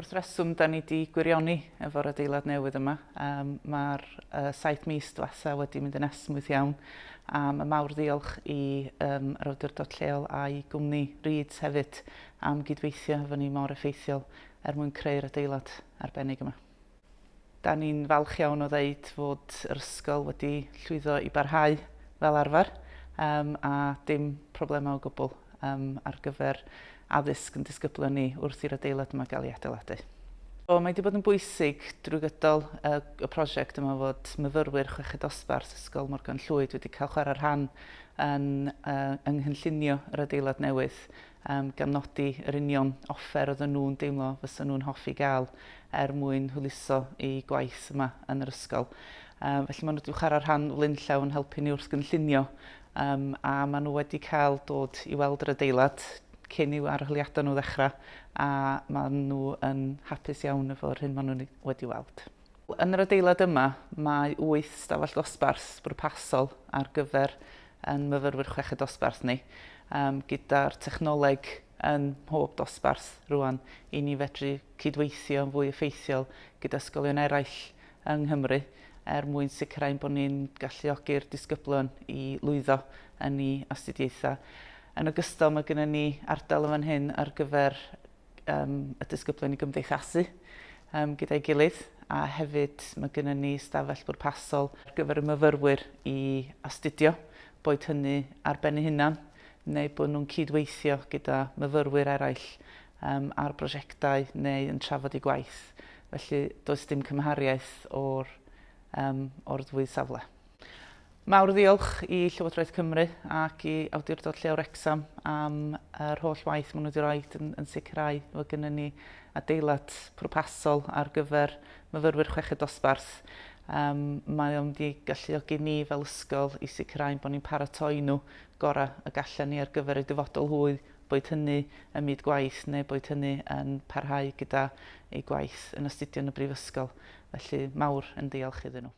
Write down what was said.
wrth reswm da ni wedi gwirioni efo'r adeilad newydd yma. Um, Mae'r uh, saith mis dwetha wedi mynd yn esmwyth iawn. A mae mawr ddiolch i um, yr awdurdod lleol a'i gwmni Reeds hefyd am gydweithio efo ni mor effeithiol er mwyn creu'r adeilad arbennig yma. Dan ni'n falch iawn o ddeud fod yr ysgol wedi llwyddo i barhau fel arfer yym a dim problemau o gwbl yym ar gyfer addysg yn disgyblion ni wrth i'r adeilad yma gael ei adeiladu. Mae wedi bod yn bwysig drwy gydol y y prosiect yma fod myfyrwyr chweched dosbarth Ysgol Morgan Llwyd wedi cael chwarae rhan yn yy yng nghynllunio yr adeilad newydd yym gan nodi yr union offer oedden nhw'n deimlo fysa nhw'n hoffi gael er mwyn hwyluso eu gwaith yma yn yr ysgol. Yym, felly maen nhw wedi chwarae rhan flaenllaw yn helpu ni wrth gynllunio um, a maen nhw wedi cael dod i weld yr adeilad cyn i'w arholiadau nhw ddechrau a maen nhw yn hapus iawn efo'r hyn maen nhw wedi weld. Yn yr adeilad yma, mae wyth stafell ddosbarth bwrpasol ar gyfer ein myfyrwyr chweched dosbarth ni, gyda'r technoleg ym mhob dosbarth rŵan i ni fedru cydweithio yn fwy effeithiol gyda ysgolion eraill yng Nghymru er mwyn sicrhau ein bod ni'n galluogi'r disgyblion i lwyddo yn eu astudiaethau. Yn ogystal, mae gennym ni ardal yn fan hyn ar gyfer um, y disgyblion i gymdeithasu um, gyda'i gilydd a hefyd mae gennym ni stafell bwrpasol ar gyfer y myfyrwyr i astudio, boed hynny ar ben ei hunan neu bod nhw'n cydweithio gyda myfyrwyr eraill um, ar brosiectau neu yn trafod eu gwaith. Felly does dim cymhariaeth o'r, um, o'r ddwy safle. Mawr ddiolch i Llywodraeth Cymru ac i Awdurdod Lleol Wrecsam am yr holl waith maen nhw wedi rhoi yn, yn sicrhau fod gennym ni adeilad pwrpasol ar gyfer myfyrwyr chweched dosbarth. Um, mae o'n wedi galluogi ni fel ysgol i sicrhau bod ni'n paratoi nhw gorau y gallan ni ar gyfer eu dyfodol hwy, boed hynny ym myd gwaith neu boed hynny yn parhau gyda eu gwaith yn astudio yn y brifysgol. Felly mawr yn ddiolch iddyn nhw.